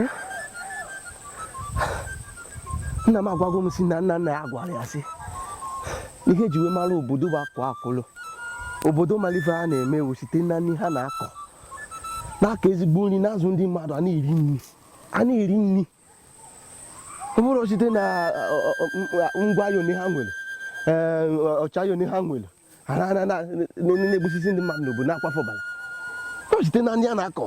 eh? nna m agwago m sị na nna nna ya gwara ya sị ihe e ji wee mara obodo bụ akụ akụlụ obodo malife a na-eme ọ wụ site na nri ha na-akọ na-akọ ezigbo nri na-azụ ndị mmadụ a na-eri nri a na-eri nri ọ bụrọ site na ngwa aya one ha nwere ọchịaya one ha nwere ha na- na- na- na- na- na-egbusisi ndị mmadụ n'obodo na-akwafu ọbara ọ site na nri a na-akọ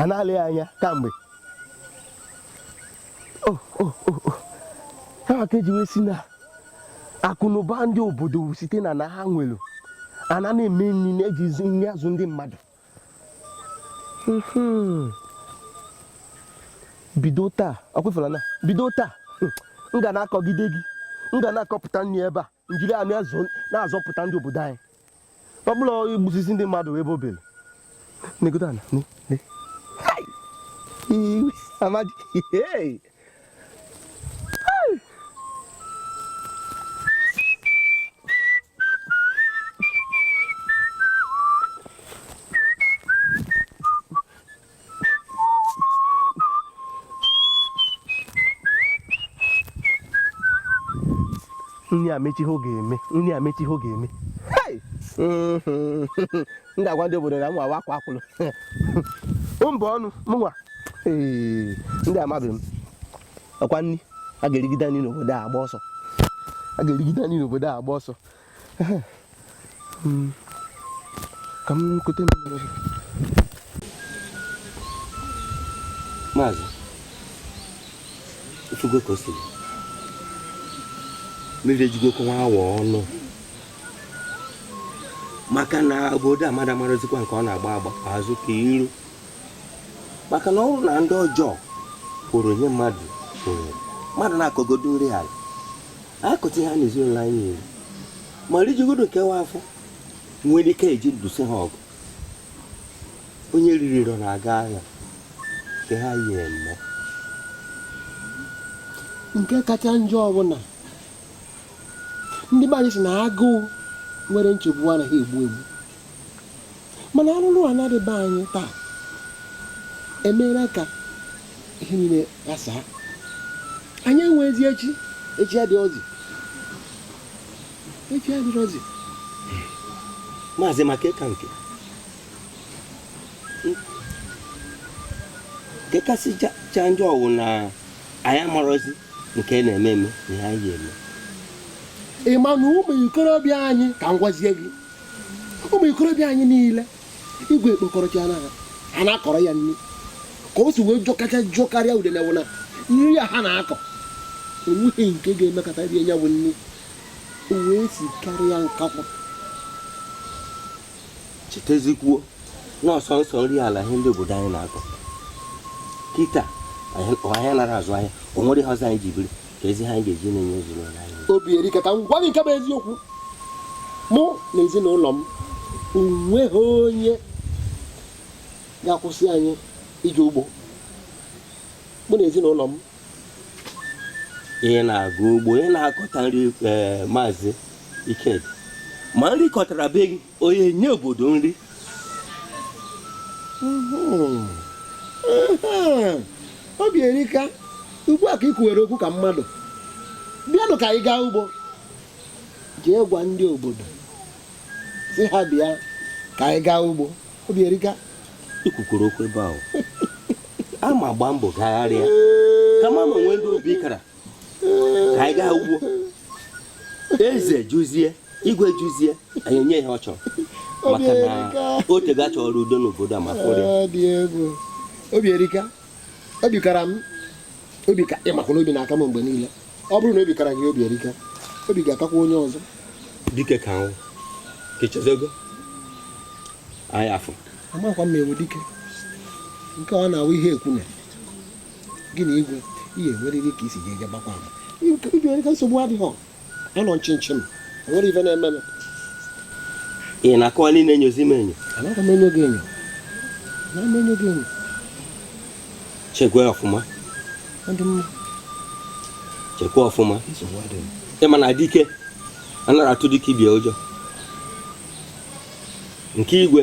a na-alị ya anya kamgbe oh, oh, oh, ya ka e ji wee sị na akụnụba ndị obodo site na ana ha nwere ana na-eme nri na-ejizi nri azụ ndị mmadụ hmm. bido taa ọkwa afụla na bido taa hmm, m ga na-akọgide ji m ga na-akọpụta nri ebe a m jiri ya na-azọpụta ndị obodo anyị ọ bụrọ igbusisi ndị mmadụ ebe obere negodo ana amadi nri emechaa ihe ọ ga-eme nri emechaa ihe ọ ga-eme m ga-agwa ndị obodo na mụnwa wụ akwa akwụrụ mba ọnụ mụnwa ee ndị amabeghị m ọkwa nri a ga-erigide nri n'obodo a agba ọsọ a ga-erigide nri n'obodo a agba ọsọ ka m kute maazị ofugo ka o siri mmiri ejigokwa nwa awa ọnụ maka na obodo mmadụ amarọzikwa nke ọ na-agba agba azụ ka iru maka na ọ bụrụ na ndị ọjọọ kwụrụ ihe mmadụ kwụrụ mmadụ na-akọgodo nri ala akụtụ ha na ezinụlọ anyị nyere ma rijugodu kwa afọ nwere ike e ji nụso ha ọgụ onye riri nri ọ na-aga agha nke ha yi eme nke kacha njọ bụ na ndị be anyị sị na agụụ nwere nchekwube anaghị egbu egbu mana arụrụala dị be anyị taa emeela ka ihe niile ghasaa anyị enweghịzi echi echi adịrọzi echi adịrọzi maazị maka ịka nke nke kasịcha njọ wụ na anyị amarọzi nke na-eme eme na ihe anyị eme ị ma na ụmụ ikorobịa anyị ka m gwazie gị ụmụ ikorobịa anyị niile igwe ekpokọrọchana ha ha na-akọrọ ya nri ka o si wee jọọ kacha jọkarịa udele wụ na nri a ha na-akọ enweghị nke ga-emekata rie ya bụ nri o wee sikarịa nkakwụ chetazikwuo na ọsọ nsọ nri ala ihe ndị obodo anyị na-akọ kịta anyị anara azụ ahịa o nwere ihe ọzọ anyị ji biri kezi ihe a ga-eji na-enye ezinụlọ anyị Obierika ka m gwa gị nke bụ eziokwu mụ na ezinụlọ m o nweghị onye ga-akwụsị anyị ije ugbo mụ na ezinụlọ m ya na-aga ugbo ya na-akọta nri eh, maazị Ikedi ma nri ị kọtara be gị ọ ya-enye obodo nri Obierika ugbu a ka ị kwuwere okwu ka mmadụ bịanụ ka anyị gaa ugbo jee gwa ndị obodo sị ha bịa ka anyị gaa ugbo Obierika i kwukwere okwu ebe ahụ aga m agba mbọ gagharịa ka m ma ma e nwee ndị obi kara ka anyị gaa ugbo eze jụzie igwe jụzie anyị enye ihe ọ chọrọ maka na o tego a chọrọ udo n'obodo a ma a fụrọ Obierika obi kara m obi ka ị makwa na obi na-aka m mgbe niile ọ bụrụ na obi kara gị Obierika obi ga-akakwa onye ọzọ dike ka ahụ kechezogo anyị afọ amakwa m ị wụ dike nke ọ na-awụ ihe e kwune gị na igwe ihe enwerịrị ka i si ga-eje gbakwa ama ibi onye ka nsogbu adịghị anọ nchịnchị m enwere ife na-eme m ị na-akọwa niile enyozi m enyo anaghị m enyo gị enyo anaghị m enyo gị enyo chekwa ọfụma chekwa ọfụma ị ma na dike anara atụ dike ibe ya ụjọ nke igwe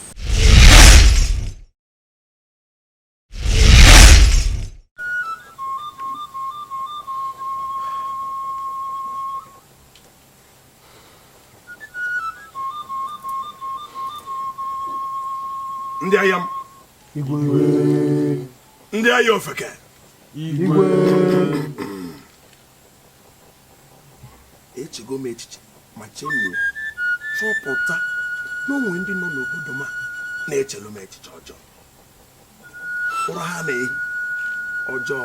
ndị agha m ndị agha ofeke echego m echiche ma chemie chọpụta na o nwe ndị nọ n'obodo m na-echelu m echiche ọjọọ ụra ha na-ehi ọjọọ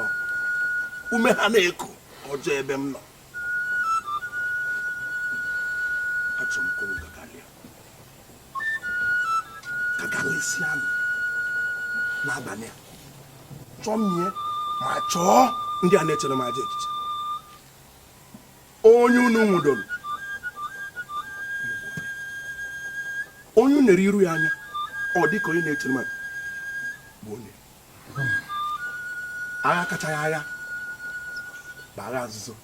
ume ha na-eku ọjọọ ebe m nọ gagharịsianụ n'abalị a chọmie ma chọọ ndị a na-echere m ajọ echiche onye unu nwụdoro onye unu nere iru ya anya ọ dịka onye na-echere m bụ onye agha kachaghị agha bụ agha nzuzo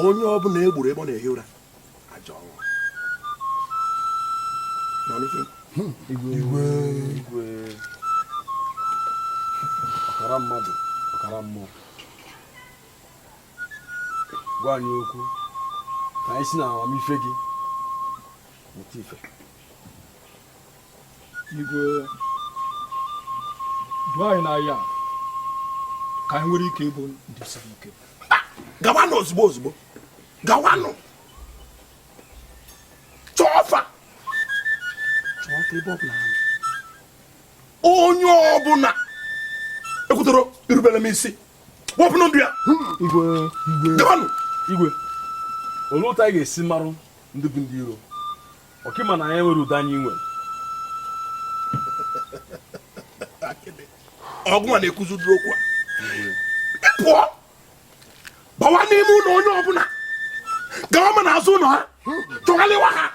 onye ọbụla e gburu ebe ọ na-ehi ụra ajọ ọnwụ igwe igwe ọkara mmadụ ọkara mmụọ gwa anyị okwu ka anyị si na amamife gị mụta ife ka anyị nwere ike ịbụ ndị siri ike gawanụ ozugbo ozugbo gawanụ chọọ fa chọọ fa ebe ọbụla onye ọbụla ekwetarọ irubere m isi wepụ ndụ ya igwe igwe igwe olee otu anyị ga-esi marụ ndị bụ ndị iro ọkị ma na anyị nwere udo anyị nwere ọgụ a na-ekwuzi ụdịrị okwu a pụọ bawa n'ime ụlọ onye ọbụla gawa ma n'azụ ụlọ ha chọghalịwa ha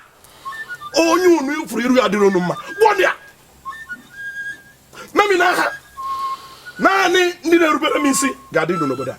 onye unu fụrụ iru ya adịrọ unu mma gbuo ya memina ha naanị ndị na-erubere m isi ga-adị ndụ n'obodo a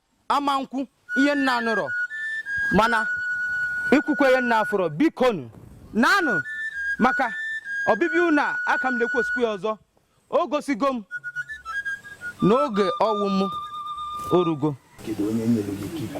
ama m ekwu ihe m na-anụrọ mana ikwukwa ihe m na-afụrọ bikonu naanụ maka ọbịbịa unu a aka m na-ekwusikwu ya ọzọ o gosigo m na oge ọnwụ m orugo kedu onye nyere gị ike ikwu